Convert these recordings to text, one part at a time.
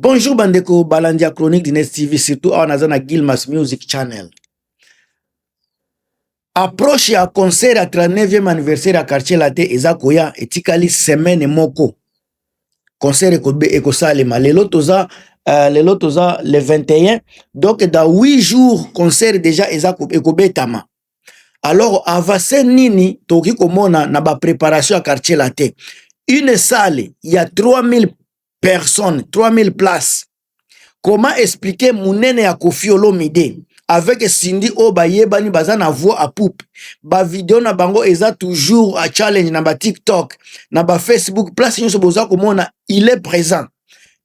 Bonjour bandeko balandi ya chronique du Nest TV surtout awa naza na Gilmas Music Channel. Approche ya concert ya 39e anniversaire ya quartier latin eza koya etikali semaine moko. Concert ekobe ekosalema lelo toza uh, lelo toza le 21 donc dans 8 jours concert déjà eza ekobetama. alors avance nini tokoki komona na ba préparation ya quartier latin une salle ya 3000 personnes 3000 places comment expliquer monene ya kofi olomide avec sindi oyo bayebani baza na voix a poupe bavideo na bango eza toujours a challenge na ba tiktok na ba facebook place nyonso boza komona il est présent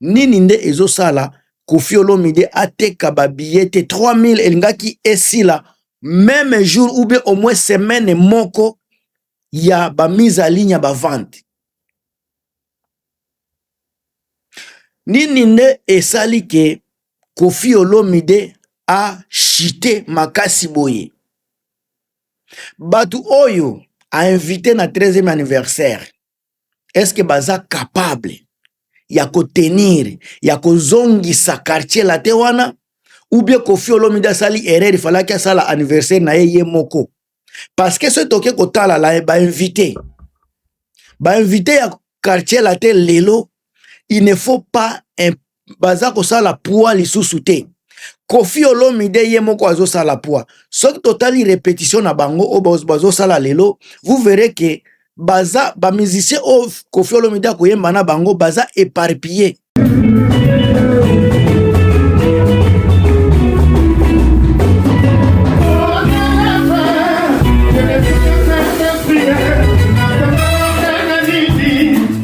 nini nde ezosala kofi olomide ateka babillet te 3000 elingaki esila meme jour ou bien au moins semaine moko ya ba mise à ligne ya ba vente nini nde esali ke kofi olomide a chite makasi boye bato oyo a invite na 13e anniversaire est-ce que baza capable ya ko tenir ya kozongisa quartier latin wana ou bien Koffi Olomide asali erreur ifalaki asala anniversaire na ye ye moko parce que soki toke kotala la ba invité ba invité ya quartier latin lelo il ne faut pas baza kosala pua lisusu te kofi olomide ye moko azosala pua soki totali repetition na bango oyo bazosala lelo vous verrez que baza bamusicien oyo kofi olomide akoyemba na bango baza éparpillé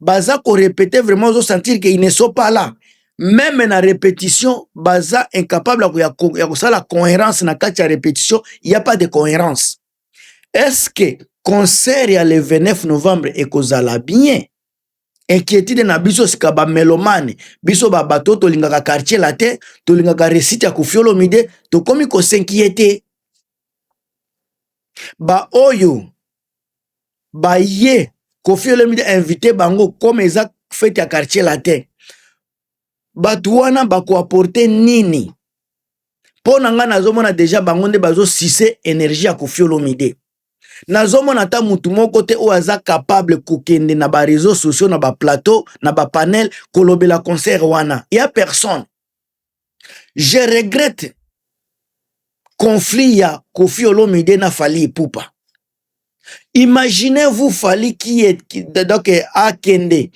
baza korepete vraiment ozosentir ke ne sont pas là meme na répétition baza incapable ya kosala cohérence na kati ya répétition ya pas de cohérence est ce que concert ya le 29 novembre ekozala bien inquiétude na biso sika ba melomane biso ba bato tolingaka quartier latin tolingaka resite ya kofiolomide tokomi kosinkiete baoyo baye kofiolomide invite bango koma eza fete ya quartier latin bato wana bakoaporte nini mpo na ngai nazomona deja bango nde bazosise energie ya kofiolomide nazomona ata mutu moko te oyo aza capable kokende na ba réseaux sociaux na ba plateau na ba panel kolobela concert wana ya personne je regrette conflit ya Kofi Olomide na Fally Ipupa imaginez-vous Fally qui est donc akende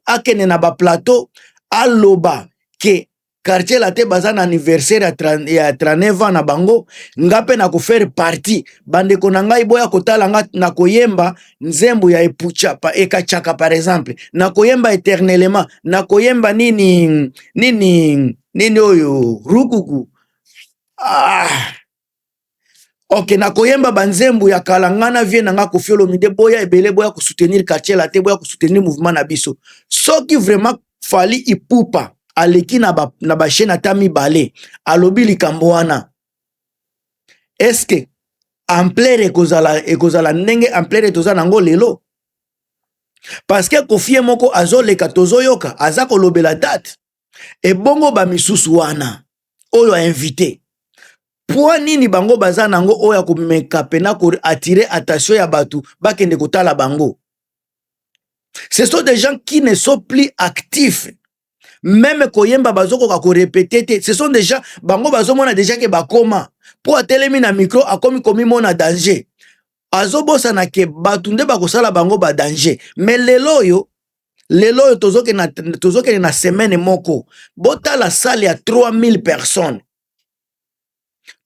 akende na ba plateau aloba ke quartier latin baza na anniversaire ya 39 ans na bango nga mpe nakofaire parti bandeko na ngai boya kotala nga nakoyemba nzembo ya epucha pa ekachaka par exemple nakoyemba éternellement nakoyemba nini nini nini oyo rukuku ah. ok nakoyemba banzembo ya kala nga na vie na nga kofi olomide boya ebele boya kosoutenir quartier late boya kosoutenir mouvement na biso soki vraiment fali ipupa aleki na ba, na ba chaîne ata mibale alobi likambo wana eske amplere ekozala ekozala ndenge amplere toza nango lelo parce que kofie moko azoleka tozoyoka aza kolobela date ebongo ba misusu wana oyo a invite mpo nini bango baza nango oyo ya komeka pena ko attire attention ya bato bakende kotala bango ce sont des gens qui ne sont plus actifs meme koyemba bazokoka korepete te ce sont des gens bango bazomona deja ke bakoma mpo atelemi na micro akomi komimona danger azobosana ke bato nde bakosala bango ba danger me lelo oyo lelo oyo tozokende na semaine moko botala sale ya 3000 personnes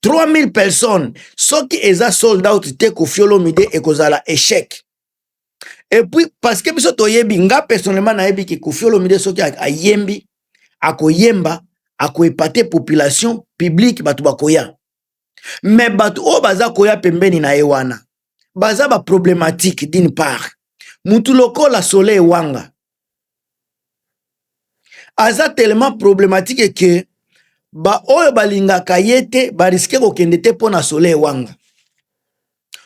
3000 personnes soki eza sold out te kofiolomide ekozala echec epuis parce que biso toyebi nga personnellement nayebi ke kofiolomide soki ayembi akoyemba akoepate population publique bato bakoya me bato oyo baza koya pembeni na ye wana baza baproblematike d'une part mutu lokola soleil wanga aza tellement problématique ke baoyo balingaka ye te bariske kokende te mpo na soleil wanga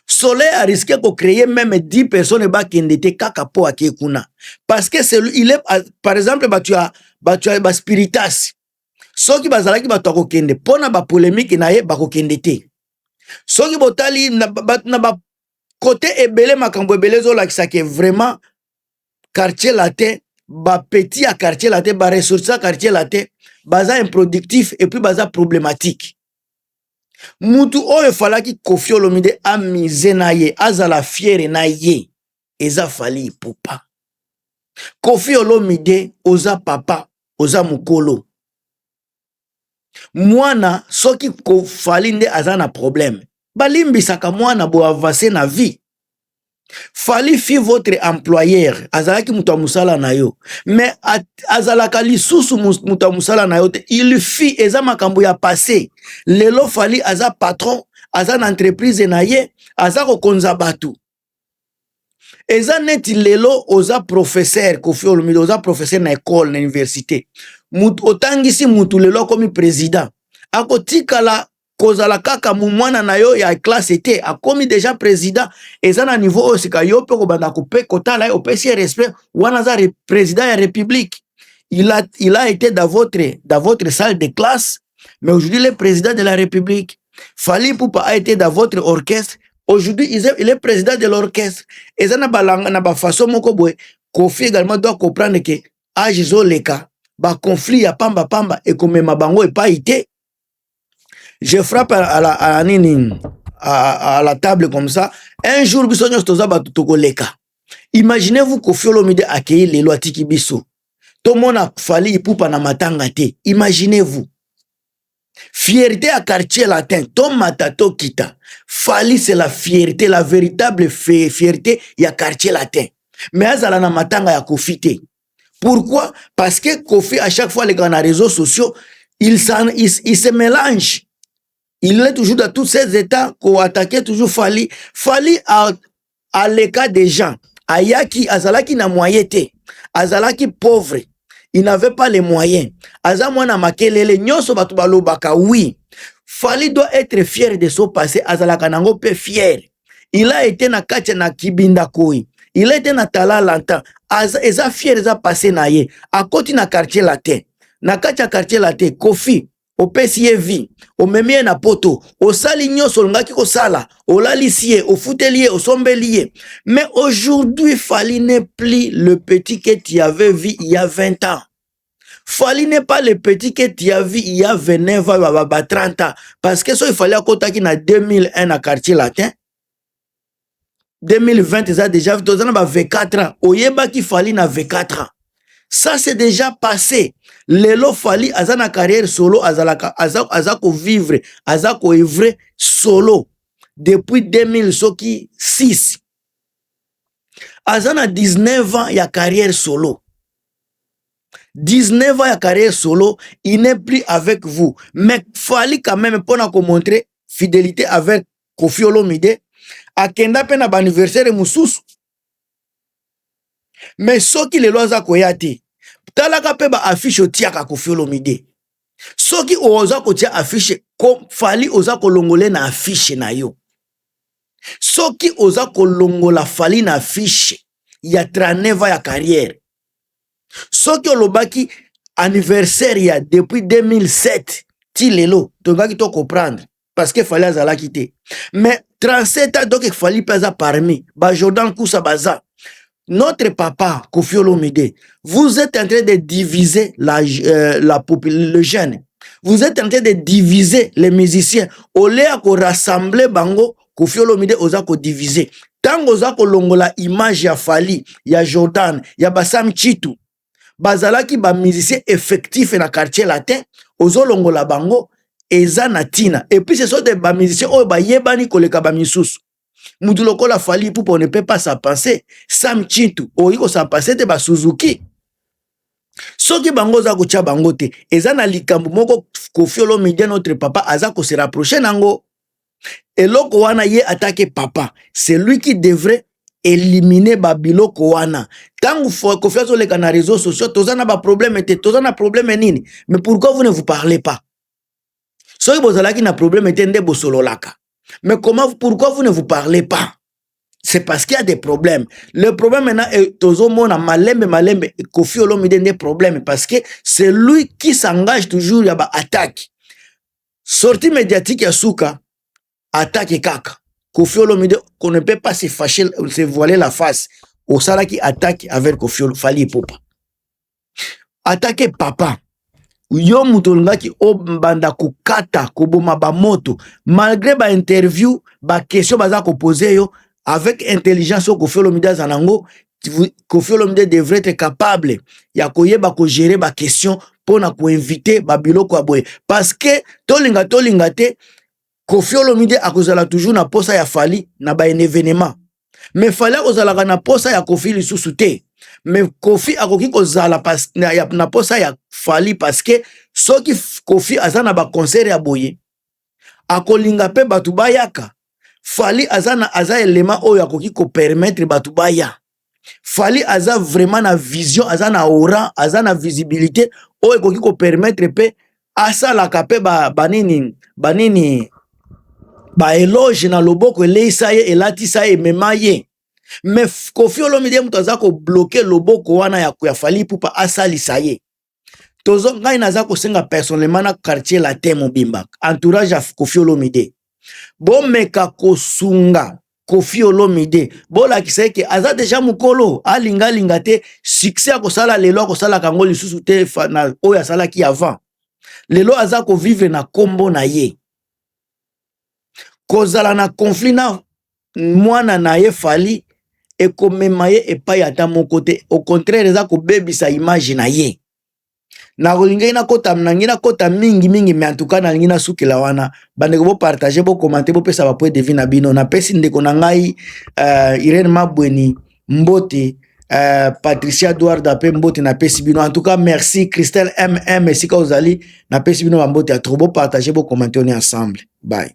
soleil ariske kocreye meme 10 personnes bakende te kaka mpo ake kuna parceke il est par exemple bato ya bato ya baspiritas soki bazalaki bato ya kokende mpo na bapolemiki na ye bakokende te soki botali na bakote ebele makambo ebele ezolakisa ke vraiment quartier latin bapeti ya quartier latin baressource ya quartier latin baza improductif epuis baza problématique mutu oyo efalaki kofi olomide amise na ye azala fiere na ye eza fali ipupa kofi olomide oza papa oza mokolo mwana soki kofali nde aza na probleme balimbisaka mwana boavance na vie fali fi votre employeur azalaki moto ya mosala na yo me azalaka lisusu moto ya mosala na yo te il fi eza makambo ya passe lelo fali aza patron aza na entreprise na ye aza kokonza bato eza neti lelo oza professeur kofi olomide oza professeur na ekole na université mutu otangisi mutu lelo akomi président akotikala kozala kaka mwana na yo ya classe te akomi deja président eza na niveau oyo sika yo mpe kobanda kope kotala ye opesi ye respect wana aza président ya république il a, il a été dans votre, dans votre salle de classe mais aujourd'hui le président de la république Fali Poupa a été dans votre orchestre aujourd'hui il est président de l'orchestre eza na balanga na bafaçon moko boye kofi également doit comprendre ke age ezoleka baconflit ya pamba pamba ekomema bango epai te je frappe à la, à la nini à, à la table comme ça un jour biso nyonso toza bato tokoleka imaginez vous kofi olomide akei lelo atiki biso tomona fali ipupa na matanga te imaginez vous Fierté ya quartier latin tomata tokita Fally c'est la fierté la véritable fierté ya quartier latin mais azala na matanga ya Kofi te pourquoi parce que Kofi à chaque fois alekaka na réseaux sociaux il, il, il se mélange il est toujours dans tous ces états koattaquer toujours Fally Fally a aleka deja ayaki azalaki na moyen te azalaki pauvre il n'avait pas les moyens aza mwana makelele nyonso bato balobaka oui fali doit être fier de son passé azalaka nango mpe fier il a été na kati na kibinda koi il a été na tala lanta aza eza fier eza passé na ye akoti na quartier latin na kati ya quartier latin kofi opesi ye vie omemi ye na poto osali nyonso olingaki kosala olalisi ye ofuteli ye osombeli ye mais aujourd'hui fali ne plus le petit que tu avais vu il y a 20 ans fali ne pas le petit que tu as vu il y a 29 ans baba 30 ans parce que soki fali akotaki na 2001 na quartier latin 2020 eza déjà toza na ba 24 ans oyebaki fali na 24 ans ça c'est déjà passé lelo fali aza na carrière solo azalaka aza, aza kovivre aza koevre solo depuis 2000 soki 6 aza na 19 ans ya carrière solo 19 ans ya carrière solo il n'est plus avec vous mais fali quand même mpona komontre fidélité avec kofi olomide akenda mpe na baaniversaire mosusu me soki lelo aza koya te talaka mpe baafishe otiaka kofi olomide soki oza kotia afishe fali oza kolongole na afishe na yo soki oza kolongola fali na afishe ya 39 ya carrière soki olobaki anniversaire ya depuis 2007 ti lelo tokaki to comprendre parce que fali azalaki te mais 37 ans donc fali mpe aza parmi ba jordan kusa baza notre papa kofi olomide vous êtes en train de diviser la, euh, la le jeune vous êtes en train de diviser les musiciens au lieu ya korassembler bango kofi olomide oza kodivise ntango oza kolongola image ya fali ya jordan ya basam chitu bazalaki ba musicien effectif na quartier latin ozolongola bango eza na tina epuis ce sont de ba musicien oyo bayebani koleka ba misusu mutu lokola fali ipupa on ne peut pas sa penser sam chintu oyi kosa penser te ba suzuki soki bango oza kotya bango te eza na likambo moko kofiolo media notre papa aza kose rapproche nango eloko wana ye atake papa c'est lui qui devrait elimine babiloko wana ntango kofi azoleka na réseau sociaux toza na baproblème te toza na problème nini mais pourquoi vous ne vous parlez pas soki bozalaki na problème te nde bosololaka mais comment pourquoi vous ne vous parlez pas c'est parce qu'il y a des problèmes le problème maintenant est tozomona malembe malembe kofi olomide nde problème parce que c'est lui qui s'engage toujours ya baattaque sortie mediatique ya suka atake kaka kofi olomide qu'on ne peut pas se fâcher se voiler la face osalaki attaque avec kofi fali epopa atake papa yo moto olingaki obanda kokata koboma bamoto malgré bainterview bakestion baza kopose yo avec intelligence oyo kofi olomide aza nango Koffi Olomide devrait être capable ya koyeba ko gérer ba questions mpo na koinvite babiloko ya boye parce que tolinga tolinga te Koffi Olomide akozala toujours na posa ya Fally na ba evenement mais Fally akozalaka na posa ya Koffi lisusu te mais Koffi akoki kozala pas, na, na posa ya Fally parce que soki Koffi aza na ba concert ya boye akolinga pe batu bayaka Fally aza na aza element oyo akoki ko permettre batu baya Fally aza vraiment na vision aza na aura aza na visibilité oyo ekoki ko permettre pe asalaka pe ba banini banini ba eloge na loboko eleisa ye elatisa ye emema ye mais Koffi Olomide moto aza ko bloquer loboko wana ya ya Fally Ipupa asalisa ye tozo ngai naza kosenga personnellement na quartier latin mobimba entourage ya kofi olomide bomeka kosunga kofi olomide bolakisa eke aza deja mokolo alingalinga te succès akosala lelo akosalaka yango lisusu te na oyo asalaki avant lelo aza kovivre na nkombo na ye kozala na conflit na mwana na ye fali ekomema ye epai ata moko te au contraire eza kobebisa image na ye nakolingaki nakota nangi nakota mingi mingi me antuka nalingi nasukela wana bandeko bopartage bokomante bopesa bapoint de vue na bino napesi ndeko na ngai uh, irene mabweni mbote Uh, patricia duarda mpe mbote napesi bino en tout cas merci christelle mm esika ozali napesi bino bambote ya trop bopartage bokomante oni ensemble bye